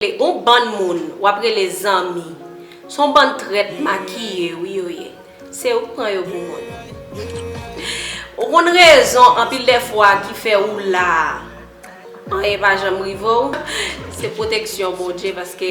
Gon bann moun wap rele zanmi son bann trèt makiye wi yo ye se ou k pran yo pou moun ou konn rezon anpil dè fwa ki fè ou la anyen pa janm rive w se pwoteksyon bondye paske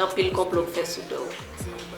anpil konplo k fè sou do w.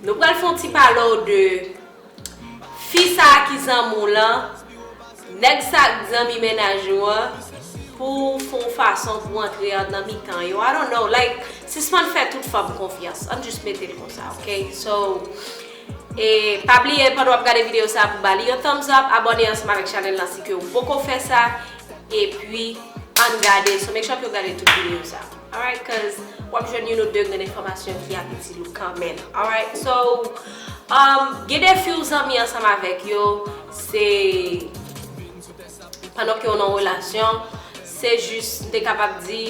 Nou pral fon ti pale w de fi sa ki zanmi w lan, nèg sa k zanmi mennaj ou an pou w fon fason pou w antre an nan mitan yo I don't know like sispann fè tout fanm konfyans ann jis mete l konsa ok so e pa bliye pandan wap gade videyo sa pou ba li yon thumbs up abòne ansanm avèk chanèl lan si ke w poko fè sa epi ann gade so make sure ke w gade tout videyo sa. Alright cuz wap jwenn youn ou 2 grenn enfòmasyon ki ap itil ou kanmenm. Alright so umm gen defi ou zanmi ansanm avèk yo se pandan ke ou nan yon relasyon se jis m te kapab di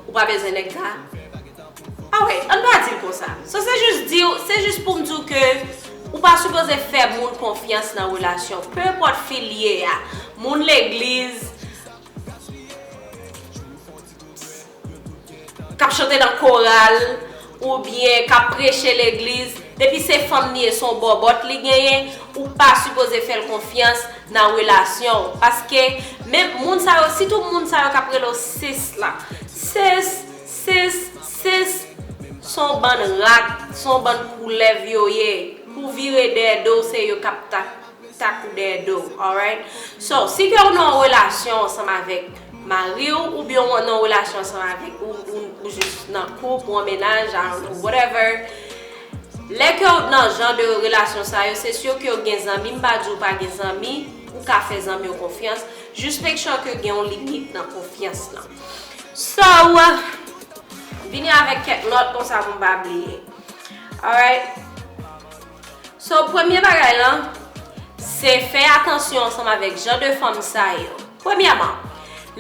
ou pa bezwen nèg sa alright ann pa dil konsa so se jis diw se jis poum diw ke ou pa sipoze fè moun konfyans nan relasyon pe enpòt fi l ye a moun legliz K ap chante nan koral oubyen k ap preche legliz, depi se fanm li ye, se yon bòbòt li genyen, ou pa sipoze fè l konfyans nan relasyon w. Paske men moun sa yo, sitou moun sa yo k ap rele w sis la. Sis, sis, sis, se yon bann rat, se yon bann koulèv yo ye. Pou w vire dèyè do w, se yo k ap ta. ta kou dèyè do w alright so si ke ou nan yon relasyon ansanm avèk mariw oubyen ou nan yon relasyon ansanm avèk ou jis nan koup ou an mennaj I don't know whatever lè ke ou nan jan de relasyon sa yo se sur ke ou gen zanmi m pa di ou pa gen zanmi ou ka fè zanmi w konfyans jis make sure ke gen yon limit nan konfyans lan so vini avèk kèk nòt konsa pou m pa bliye alright. So premye bagay lan, se fè atansyon ansanm avèk jan de fanm sa yo. Premyèman,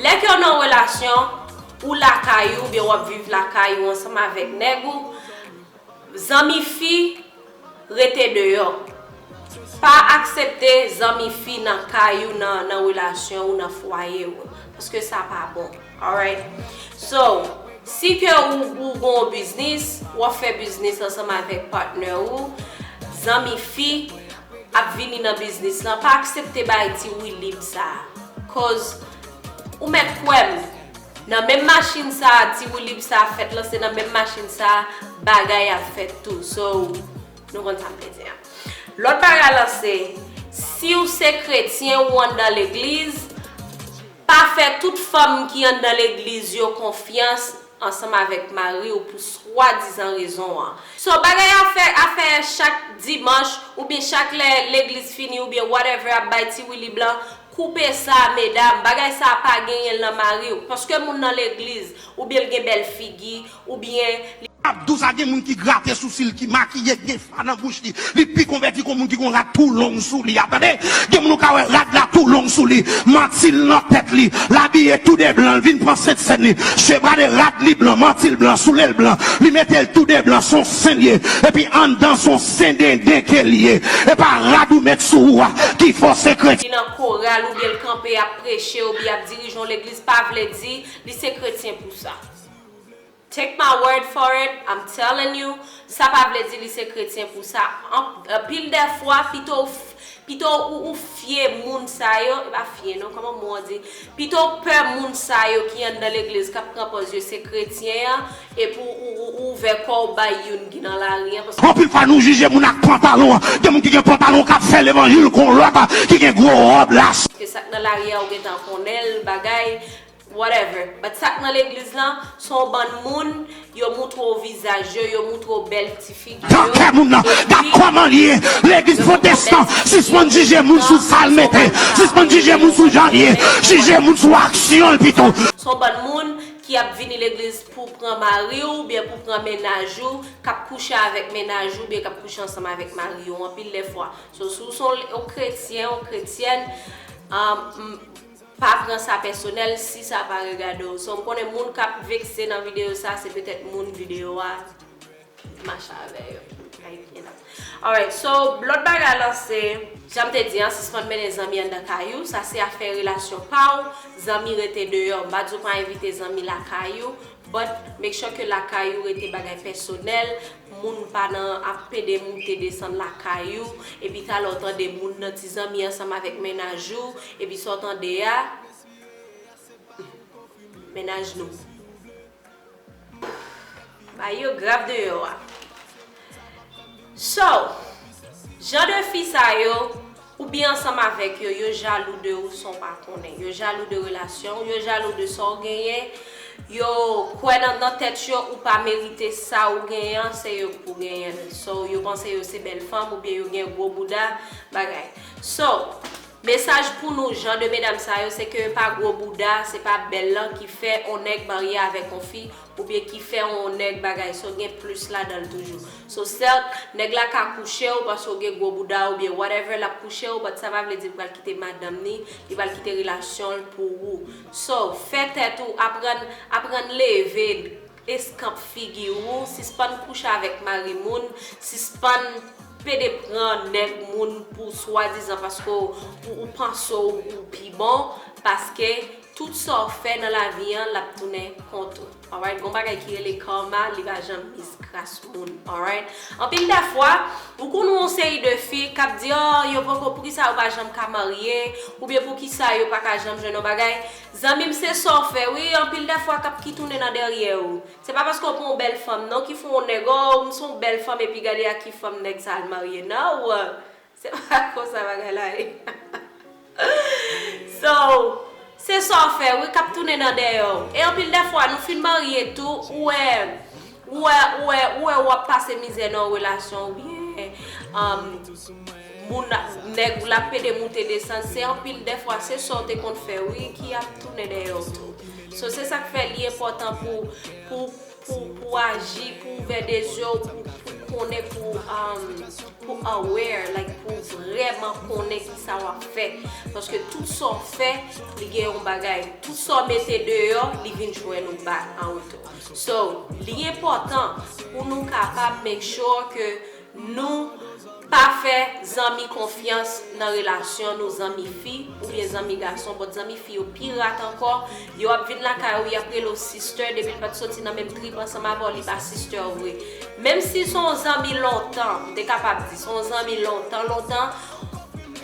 lè ke w nan yon relasyon, ou lakay ou oubyen w ap viv lakay ou ansanm avèk nèg ou, zanmi fi rete deyò. Pa aksepte zanmi fi nan kay ou, nan relasyon ou, nan fwaye ou. Paske sa pa bon. Alright So si ke ou ou gon ou biznis, ou ap fè biznis ansanm avèk patnè ou, zanmi fi ap vini nan biznis lan pa aksepte bay ti woulib sa a. Koz ou mèt kwè m nan menm machin sa a ti woulib sa ap fèt lan se nan menm machin sa a bagay ap fèt tou. So nou konn sa m vle di a. Lòt bagay lan se, si ou se kretyen ou anndan legliz, Pa fè tout fanm ki anndan legliz yo konfyans ansanm avèk mari w pou swadizan rezon an. So bagay afè afè chak dimanch oubyen chak lè legliz fini oubyen whatever ap bay ti wili blan, koupe sa medam, bagay sa pa genyen l nan mari w, paske moun nan legliz, oubyen l gen bèl figi, Ou byen. Abdou sa gen moun ki grate sousil ki makiye gen fa nan bouch li li pi konvèti kon moun ki gon rad tou long sou li a tande gen moun ou ka wè rad la tou long sou li mantil nan tèt li l abiye tou de blan l vin pran sentsèn li je brade rad li blan mantil blan soulel blan li metel tou de blan son sen l ye epi anndan son sendenden ke l ye e pa rad ou met sou ou a ki fò se kretyen ki nan koral oubyen l kanpe ap preche oubyen ap dirije yon legliz pa vle di li se kretyen pou sa. Take my word for it, I'm telling you, sa pa vle di li se kretyen pou sa. Anpil dè fwa, pito w pito w ou fye moun sa yo, e pa fye non, kòman mo an di, pito w pè moun sa yo ki anndan legliz k ap pran pòz yo se kretyen an, epi w ou ouvè kò w bay youn ki nan lari an, paske. Anpil fwa nou jije moun ak pantalon, gen moun ki gen pantalon k ap fè levanjil kon lòt ki gen gwo ròb lace. Paske sa k nan lari a ou gen tan konnen l, bagay. Whatever but sak nan legliz lan son bann moun yo moutre w vizaj yo yo moutre w bèl ti figi yo epi yo moutre w bèl ti figi yo yo moutre w son bann moun ki ap vini legliz pou pran mari w oubyen pou pran mennaj ou kap kouche avèk mennaj ou oubyen kap kouche ansanm avèk mari yo anpil lè fwa so si w son yon kretyen yon kretyèn aah m. Pa pran sa pèsonèl si sa pa regade w. Son konnen moun kap vekse nan video sa se petèt moun video a mache avè yo. Ay byen nan. Alright so lòt bagay lan se. Janm te di an sispann mennen zanmi andan kay ou, sa se afè relasyon pa w, zanmi rete deyò. M pa di w pa envite zanmi lakay ou, But make sure ke lakay ou rete bagay pèsonèl, moun pa nan ap pede moute desann lakay ou, epi talè w tande moun nan ti zanmi ansanm avèk mennaj ou, epi sa w tande a, humm mennaj nou bay yo grap deyò a. So, jan de fi sa yo, ou byen ansanm avèk yo, yo jalou de ou san w pa konnen. Yo jalou de relasyon w, yo jalou de sa w genyen, yo kwè nan nan tèt yo ou pa merite sa ou genyen an, se yo k pou genyen l. So, yo panse yo se bèl fanm oubyen yo gen gwo bouda, bagay. So, mesaj pou nou jan de medam sa yo, se ke pa gwo bouda, se pa bèl lan ki fè on nèg marye avèk on fi, Oubyen ki fè on nèg bagay so gen plus ladan l toujou. So certes, nèg la ka kouche w paske w gen gwo bouda oubyen whatever l ap kouche w but sa pa vle di l pral kite madanm ni, li pral kite relasyon l pou ou. So, fè tèt ou, aprann, aprann leve eskanp figi ou, sispann kouche avèk mari moun, sispann pede pran nèg moun pou swadizan paske w ou panse w ou pi bon, paske. Tout sa w fè nan lavi an lap tounen kont ou alright gon bagay ki rele karma li pa janm miss gras moun alright anpil da fwa ou konn wè yon seri de fi kap di oh yo poko poukisa yo pa janm ka marye oubyen poukisa yo paka janm jwenn yon bagay zanmim se sa w fè wi anpil da fwa kap ki tounen nan dèryè ou se pa paske w pran yon bèl fanm non ki fè yon nèg oh m son bèl fanm epi gade ak ki fanm nèg sa al marye now Se pa konsa bagay la ye. So, se sa w fè wi k ap tounen nan dèyè w. E anpil dè fwa, nou fin marye tou, ou wè, ou wè, ou wè, ou wè ou ap pase mizè nan yon relasyon oubyen, um, moun la, nèg ou la ap pede moute desann, se anpil dè fwa se sa w te konn fè wi ki ap tounen dèyè w tou. So, se sa k fè li enpòtan pou, pou. Pou pou aji pou ouvè de zye w pou pou konnen pou pou aware like pou vrèman konnen kisa wap fè paske tout sa w fè li gen yon bagay tout sa w mete deyò li vin jwenn ou back an retou so li enpòtan pou nou kapab make sure ke Nou Pa fè zanmi konfyans nan relasyon nou zanmi fi oubyen zanmi gason but zanmi fi yo pi rat ankò yo ap vin lakay ou yap rele w sister depil pat soti nan menm trip ansanm avèw li pa sister w vre menm si son w zanmi lontan m te kapab di son w zanmi lontan lontan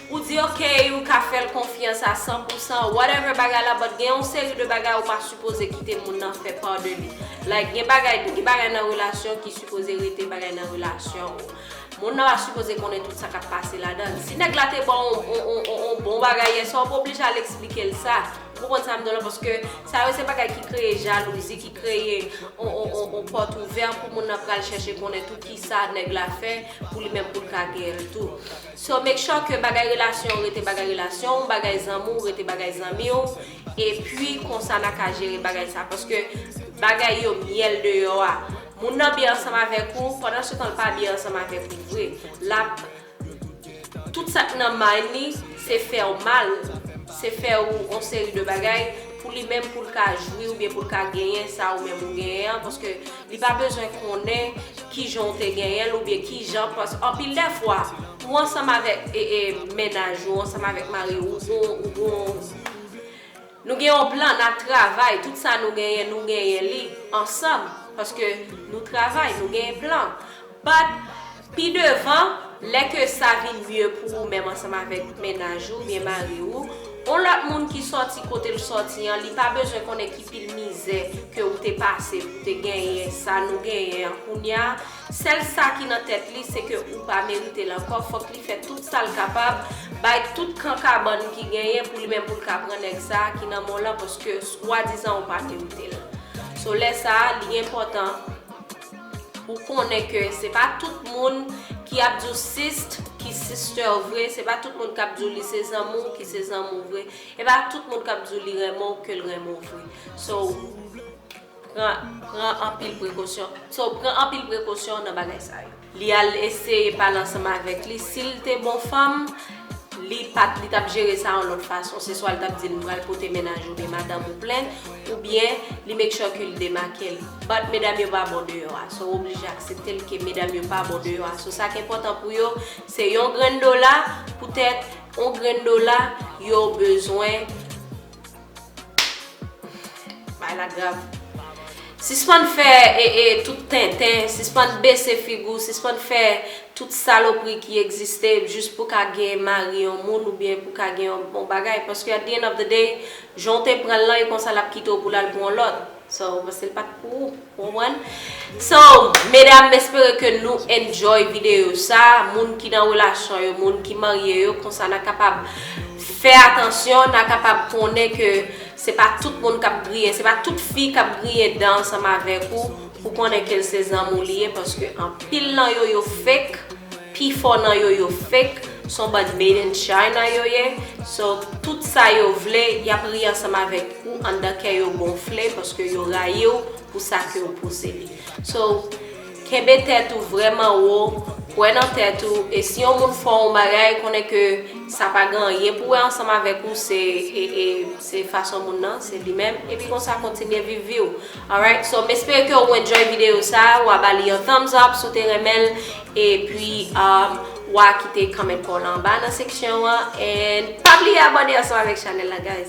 ou di ok ou ka fèl konfyans a san pou san whatever bagay la but gen yon seri de bagay ou pa sipoze kite moun nan fè part de li like gen bagay gen bagay nan relasyon ki Sipoze rete bagay nan relasyon ou. Moun nan pa sipoze konnen tout sa kap pase ladan l. Si nèg la te ba w yon bon bagay yè swa ou pa oblije al eksplike l sa. Ou konprann sa m di w la paske sa yo se bagay ki kreye jalouzi, ki kreye yon pòt ouvè pou moun nan pral chèche konnen tout kisa nèg la fè pou li menm pou l ka gen l tou. So make sure ke bagay relasyon ou rete bagay relasyon ou, bagay zanmi w rete bagay zanmi w epi konsa na ka jere bagay sa paske bagay yo myèl deyò a. Moun nan byen ansanm avèk ou, pandan se tan l pa byen ansanm avèk ou vre. L ap. Tout sa k nan mind li, se fè w mal, se fè w on seri de bagay, pou li menm pou l ka jwi oubyen pou l ka genyen sa ou menm ou genyen an, paske li pa bezwen konnen kijan w te genyen l oubyen kijan, paske anpil dè fwa, ou ansanm avèk e e mennaj ou, ou ansanm avèk mari ou, ou gon, ou gon. Nou gen yon plan, nap travay, tout sa nou genyen nou genyen li ansanm paske nou travay, nou genyen plan. But, pi devan, lè ke sa vin mye pou ou menm ansanm avèk mennaj ou oubyen mari ou, yon lòt moun ki sòti kote l sòti an, li pa bezwen konnen ki pil mizè ke ou te pase pou te genyen sa nou genyen an kounya, Sèl sa ki nan tèt li se ke ou pa merite l ankò, fòk li fè tout sa l kapab, bay tout kan kabann ki genyen pou li menm pou l ka pran nèg sa a ki nan men w lan paske swadizan ou pa merite l. So lè sa a li enpòtan ou konnen ke se pa tout moun ki ap di w sist ki sister w vre, se pa tout moun k ap di w li se zanmi w ki se zanmi w vre, e pa tout moun k ap di w li renmen w ke l renmen w vre. So. Pran, pran anpil prekosyon. So, pran anpil prekosyon nan bagay sa yo. Li al eseye pale ansanm avèk li. Si l te bon fanm, li pa t, li t ap jere sa yon lòt fason. Se swa li t ap di l, m pral pote mennaj ou oubyen madanm ou plen, oubyen li make sure ke li demake l. But, medam yo pa bon deyò a. So, w oblije aksepte l ke medam yo pa bon deyò a. So, sa k enpòtan pou yo, se yon grenn dola, poutèt yon grenn dola, yo bezwen. Bagay la grav. Sispann fè ee tout tenten, sispann bese figi w, sispann fè tout salopri ki egziste jis pou w ka gen mari yon moun oubyen pou w ka gen yon bon bagay paske at the end of the day jan w te pran l lan e konsa l ap kite w pou l al pou yon lòt. So ou panse l pat pou ou, ou konprann? So medam m espere ke nou enjoy video sa, moun ki nan relasyon yo, moun ki marye yo konsa na kapab fè atansyon, na kapab konnen ke se pa tout moun k ap griyen, se pa tout fi k ap griyen dan ansanm avèk ou pou konnen ke l se zanmi w li ye paske anpil nan yo yo fake. Pifò nan yo yo fake, son bann made in China yo ye, so tout sa yo vle yap ri ansanm avèk ou anndan kè yo gonfle paske yo rayiw pou sa kew pouse li. So kenbe tèt ou vrèman wo, kwè nan tèt ou e si yon moun fè w yon bagay konnen ke sa pa gen anyen pou wè ansanm avèk ou se e e se fason moun nan se li menm epi konsa kontinye viv viw Alright so m espere ke ou enjoy video sa a, wa ba li yon thumbs up si w te renmen l epi wa kite comment pa w lan anba nan seksyon an and pa bliye abone ansanm avèk chanèl la guys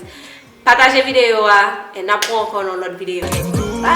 pataje video a and nap wè w ankò nan yon lòt video bye